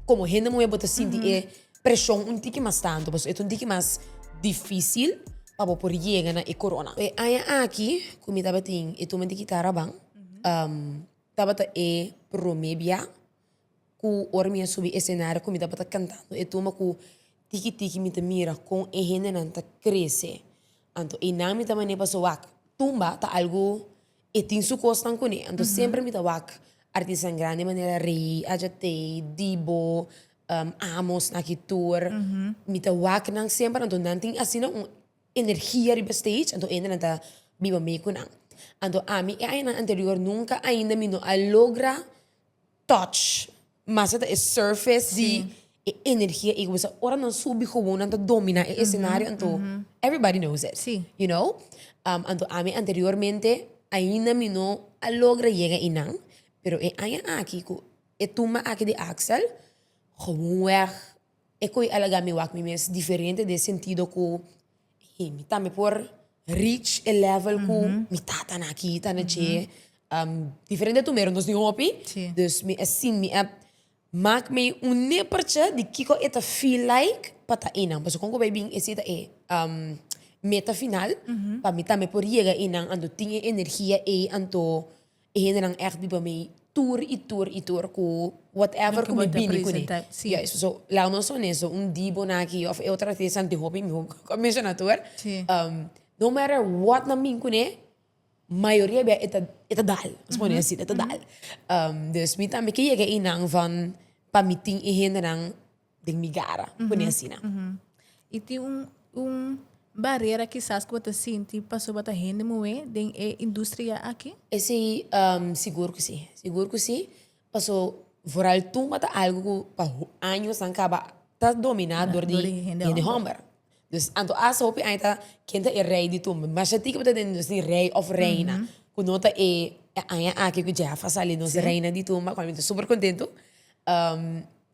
Komo hende muhé bo ta sinti e preshon un tiki mas tantu pasobra e ta un tiki mas difísil pa bo por yega na e korona. E aña aki ku mi tabatin e tuma di kitara ban tabata e promé bia ku ora mi a subi esenario ku mi tabata kantando e tuma ku tiki tiki mi ta mira kon e hendenan ta krese. Anto einan mi ta mane paso wak tumba ta algu. E tin su kosnan kuné, anto semper mi ta wak artisnan grandi manera Rey, Adja Tay, Dibo, Amos, Naki Tour, mi ta wak nan semper anto nan tin asina un energia riba stage, anto hende nan ta biba mee ku nan. Anto ami e añanan anterior nunka ainda mi no a logra. touch, mas e ta e surface di e energia ei ku bisa ora nan subi komo nan ta domina e escenario anto everybody knows it, you know. Anto ami anteriormente ainda mi no a logra yega einan pero e aña aki ku e tumba aki di Axel, gewoon wèg E koe a laga mi wak mi mes diferente den sentido ku hey mi tambe por reach e level ku mi tatanan aki ta na dje. Diferente tu mero nos tin hopi, dus mi a sin mi a mak mi un nepertje di kiko e ta feel like pa ta einan, pasobra kon ku bai bin ese ta e meta final pa mi tambe por yega einan anto tin e energia ei anto. E hendenan echt biba mi tur y tur y tur cu whatever cu mi bini cu ne. Juist. So, laga nos honesto, un di bo na aki of e otro artista anto e hopi mi bo a menciona tur, no matter what nan bin cu ne, mayoria bia e ta, e ta dal, nos pone asina, e ta dal. Dus mi tambe ke yega einan van pa mi tin e hendenan. den mi gara, uh -huh. pone asina. Uh -huh. Y tin un, un barrera quizás que bata sinti paso bata hende moe den e industria aquí? Ese um, seguro que sí, seguro que sí, paso vooral toen bata algo que pa años aan caba ta dominado door die hende homber. Dus anto hasta hopi aña ta ken ta e rey di tumbe. Masha tiki bo ta den nos di rey of reina cu no ta e aña aki cu Jeff a sali nos reina di tumbe, cual mi ta super contento.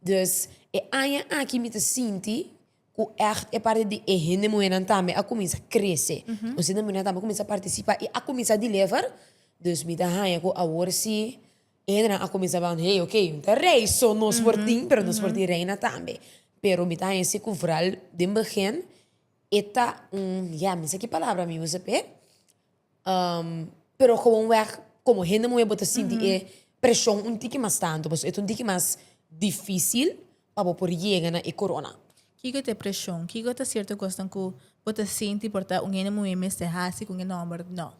Dus e aña aki mi ta sinti cu echt e parti di e hende muhernan tambe a cuminsa crece. Nos hende muhernan tambe a cuminsa participa y a cuminsa deliver, dus mi ta haña cu awor si. Ederan a cuminsa ban, hey, ok, mi ta rey, so nos por tin, pero nos por tin reina tambe. Pero mi ta hesi cu vral den begin e ta un, ya, mi sa ki palabra mi usa p'e, pero gewoon weg como hende muhe bo ta sinti e presion un tiki mas tanto, pasobra e ta un tiki mas dificil pa bo por yega na e corona. Kico ta e presion? Kico ta cierto cosnan cu bo ta sinti por ta un hende muhe mester haci con e nomber? No.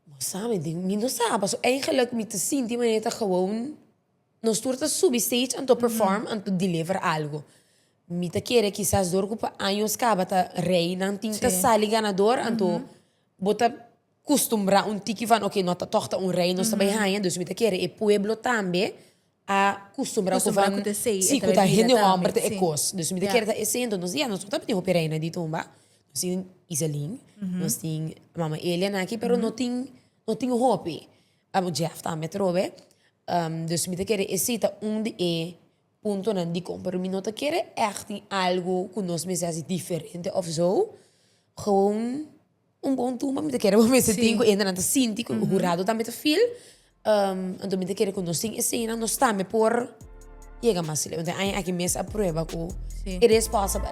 Bo sa mi tin, mi no sa, paso eigenlijk mi ta sinti manera ta gewoon nos tur ta subi stage anto perform anto deliver algo. Mi ta kere kisas dor ku pa años kaba ta rei nan tin ta sali ganador anto bo ta kustumbrá un tiki van oke no ta tòg ta un rei nos ta bai haña, dus mi ta kere e pueblo tambe a custumbrao cu van si cu ta hende homber ta e cos dus mi ta kere ta esey enton nos ya nos no ta biaho p'e reina di tumba nos tin Iselin nos tin mama Elia nan aki pero no tin no tin hopi abo Jeff tambe atrobe dus mi ta kere esey ta un di e puntonan dikon pero mi no ta kere echt tin algo cu nos mester haci diferente of zo gewoon. Un bon tumba mi ta kere bo mester tin ku endenan ta sinti ku hurado tambe ta feel. Anto mi ta kere ku nos tin esenan nos tambe por yega mas leu. Entonces aña aki mes a prueba ku it is possible.